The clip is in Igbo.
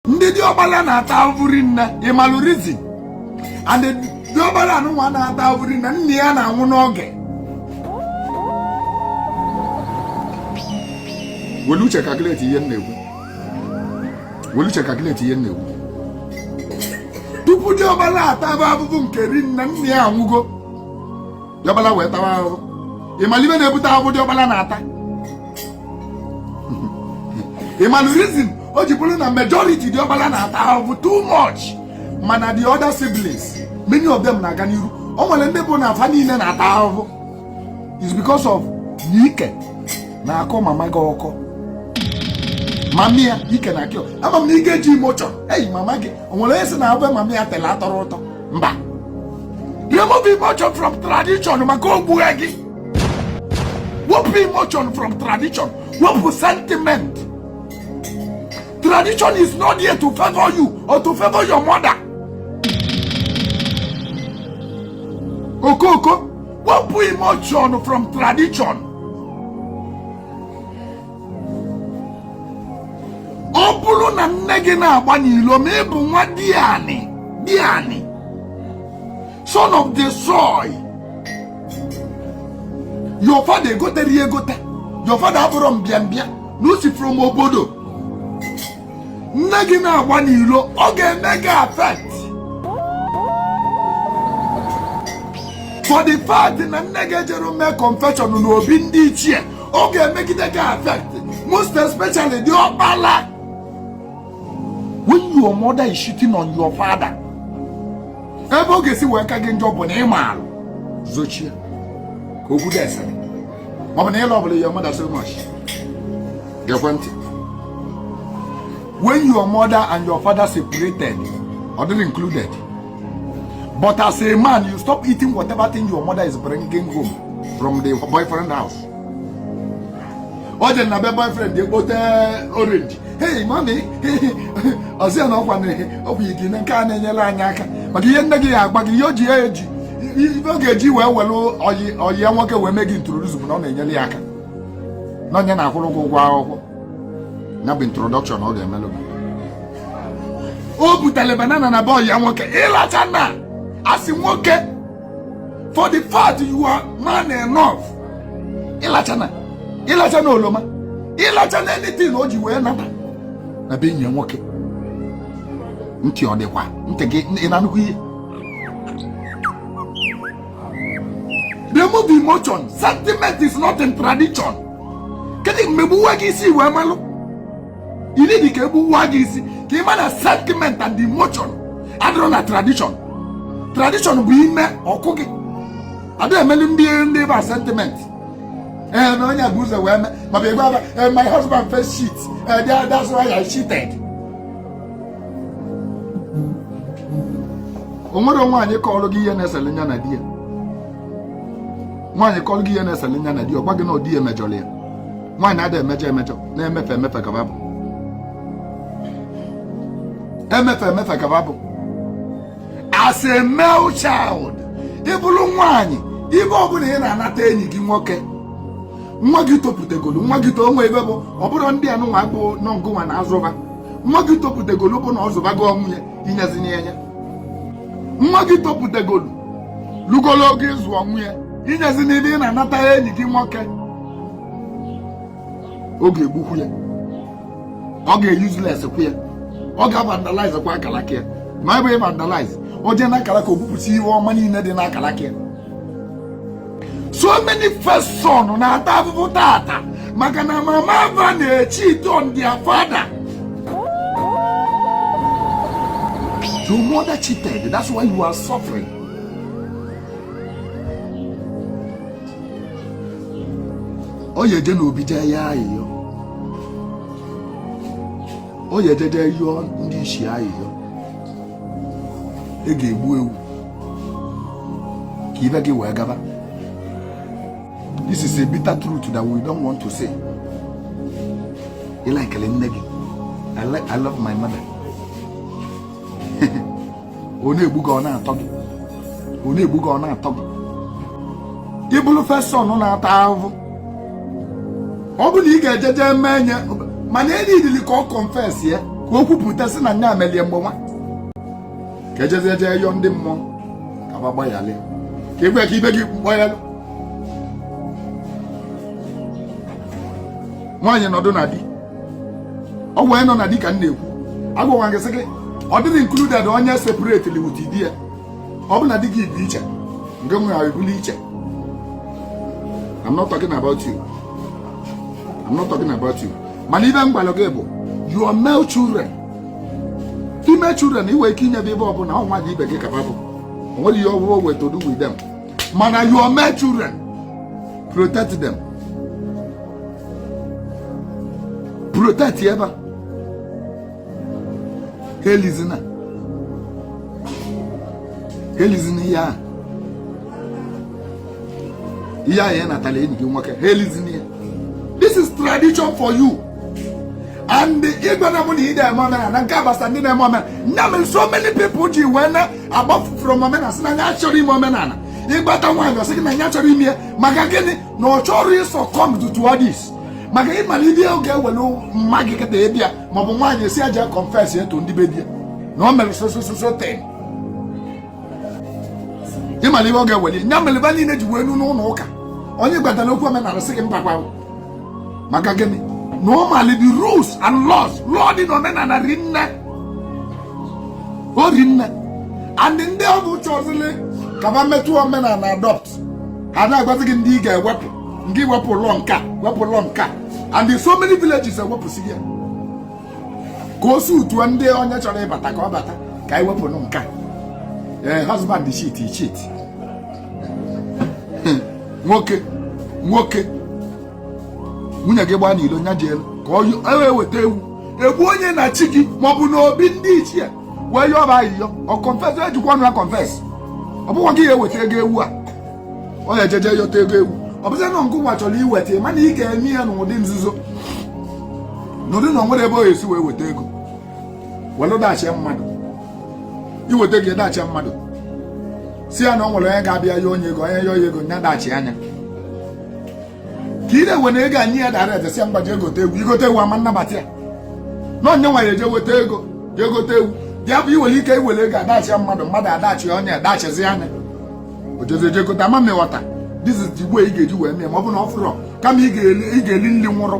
ndị diọkpala na-ata ahụhụ rinne ịmalụ reason and diọkpala anụnwa na-ata ahụhụ rinne nne ya na-anwụ n'oge welu uche calculate ihe m na-ekwu welu uche calculate ihe m na-ekwu tupu diọkpala ataba ahụhụ nke rinne nne ya anwụgo diọkpala wee tawa ahụhụ ịmalụ ihe na-ebute ahụhụ diọkpala na-ata ịmalụ reason o ji bụrụ na majority diọkpala na-ata ahụhụ too much mana the other siblings many of them na-aga n'iru o nwere ndị bụ na afa niile na-ata ahụhụ is because of na ike na-akọ mama gị ọkọ mami ya ike na-akọ ama m na ị ga-eji emotion hey mama gị o nwere onye sị na ofe mama ya tele atọrọ ụtọ mba remove emotion from tradition maka o gbughe gị wepụ emotion from tradition wepụ sentiment tradition is not here to favor you or to favor your mother okoko wepụ emotion from tradition ọ bụrụ na nne gị na-agba n'ilo ma ị bụ nwa diani diani son of the soil your father egotarọ ya egota your father abụrọ mbịambịa na o si from obodo nne gị na-agba n'ilo ọ ga-eme gị affect for the fact na nne gị ejero mee confession n'obi ndị ichie ọ ga-emegide gị affect most especially diọkpala when your mother is cheating on your father ebe ọ ga-esi wee ka gị njọ bụ na ị malụ zochie ka okwu ga-esere ọ bụ na ị lọvụlụ your mother so much gekwe ntị when your mother and your father separated ọ dịrọ included but as a man you stop eating whatever thing your mother is bringing home from the boyfriend house ọ dị na be boyfriend ekpote orange hei mami ọzi ya na ọkwa na ọkwa ikenna nke a na-enyere anyị aka maka ihe nne gị ya-agwa gị ihe o ji ya eji ihe ọ ga-eji wee were oyi oyi ya nwoke wee mee gị introduce bụ na ọ na-enyere ya aka na onye na-akwụrụ ụgwọ ụgwọ akwụkwọ ya bụ introduction ọ ga-emelụ gị o butere banana na be oyi ya nwoke ịlachana as nwoke for the fact you are man enough ịlachana ịlachana oloma ịlachana anything o ji wee nata na be enyi nwoke ntị ọ dịkwa ntị gị ị na-anụkwa ihe remove emotion sentiment is not in tradition kedu mgbe gbuwa gị isi wee malụ ị need ka egbuwa gị isi ka ị ma na sentiment and emotion adịrọ na tradition tradition bụ ime ọ kụọ gị ada emeli ndị ndị ịba sentiment ee eh, na onye bu ụzọ wee mee maọbụ ịgwa aba eh, my husband first cheat ee eh, that's why I cheated o nwere nwaanyị kọrọ gị ihe na-esele nya na di ya nwaanyị kọrọ gị ihe na-esele nya na di ya ọ gwa gị na ọ di ya mejọrọ ya nwaanyị adịghị emejọ emejọ na-emefe emefe ka babụ emefe emefe ka babụ as a male child ịbụrụ nwaanyị ibe ọbụla ị na-anata enyi gị nwoke nwa gị topụtegolu nwa gị too nwe ibe bụ ọbụrụ ndị anụnwa bụ n'ọ ngụnwa na-azụ ba nwa gị topụtegolu bụ na ọ zụbago onwe ya inyezini ya nwa gị topụtegolu lugolu oge ịzụ onwe ya inyezi n'ibe ị na-anata enyi gị nwoke ọ ga-egbukwu ya ọ ga-euseless kwu ya ọ ga-vandalize kwa akalaka ya ma ebe vandalize o jee n'akalaka o bupụta ihe ọma niile dị n'akalaka ya so many first son na-ata afụfụ tata maka na mama va na-echeat on their father Your mother cheated. That's why you are suffering. ọ ya eje n'obi jee yọọ ayịyọ ọ ya eje jee yọọ ndị isi ayịyọ e ga-egbu ewu ka ibe gị wee gaba this is a bitter truth that we don't want to say ị like nne gị I love my mother ọ na-egbu gị ọ na-atọ gị ọ na-egbu gị ọ na-atọ gị ịbụrụ first son na-ata ahụhụ ọ bụ na ị ga-eje jee mee nye mana e needili ka ọ confess ya ka o kwupụta sị na nya melie mgbe nwa ka ejezie jee yọọ ndị mmụọ ka ba gbaghara ka egwe ka ibe gị gbaghara nwaanyị nọdụ na di ọ wee nọ na di ka m na-ekwu agwagwa gị sị gị ọ dịghị included onye separatelị with di ya ọ bụ na di gị bi iche ngịnwa ebili iche I'm not talking about you I'm not talking about you mana ibe m gwara gị bụ your male children female children inwe ike inye ba ebe ọ bụ na ọ nwaanyị ibe gị ka ba bụ onwere ihe ọbụla o nwe to do with them mana your male children protect them protect ebe a helizina helizina ihe ahụ ihe ahụ ya natara enyi gị nwoke helizina ya this is tradition for you and ịgwa na mụ na ị na-eme omenala nke agbasa ndị na-eme omenala nne m so many people ji wee na agbafu from omenala asị na ya achọrọ ime omenala ị gwata nwaanyị ọ sị gị na ya chọrọ ime ya maka gịnị na ọ chọrọ ị succumb to all this maka ị mara ife ọ ga-ewere mmadụ kịta ịbịa maọbụ nwaanyị esi aja confess to ndị be di ya na o mere so so so so thing ị mara ife ọ ga-ewere ya mere ba niile ji wee nọ n'ụlọ ụka onye ị gwatara okwu omenala sị gị mbakwa maka gịnị na ọ mali the rules and laws lụọ dị na omenala rinne o rinne and ndị ọ bụ chọzili ka ba metụ omenala adopt ha na-agwazi gị ndị ị ga-ewepụ ngị wepụlụ nka wepụlụ nka and so many villages ewepụsị ya ka o si utuo ndị onye chọrọ ịbata ka ọ bata ka anyị wepụ nka ee eh, husband cheat cheat hmm. nwoke nwoke nwunye gị gbaa n'ilo nya jelu kọọ eweta ewu egbuo nye na chi gị maọbụ na obi ndị ichie wee yọọ ba ayịyọ ọ confess ejikwa ọnụ ya confess ọ bụkwa gị ya eweta ego ewu a ọ ya ejeje yọta ego ewu ọ bụzi na ngịwa chọrọ iweta ya mana ị ga-eme ya n'ụdị nzuzo n'ụdị na ọ nwere ebe ọ ga-esi wee weta ego were dachie mmadụ iweta ego dachie mmadụ si ya na ọ nwere onye ga-abịa ya onye ego onye yọọ ego nya dachi anya ka ị na-ewe na ego anyị ya dara ede si ya mgbaji egote ewu i gote ewu ama nnabata ya na onye nwa ya eje weta ego ya egote ewu ya bụ i nwere ike iwere ego adachi ya mmadụ mmadụ adachi onye adachizi anya o jezie je gote ama m ịghọta this is the way ị ga-eji wee mee ma ọ bụ na ọ fụrọ kama ị ga-eli nri nwụrụ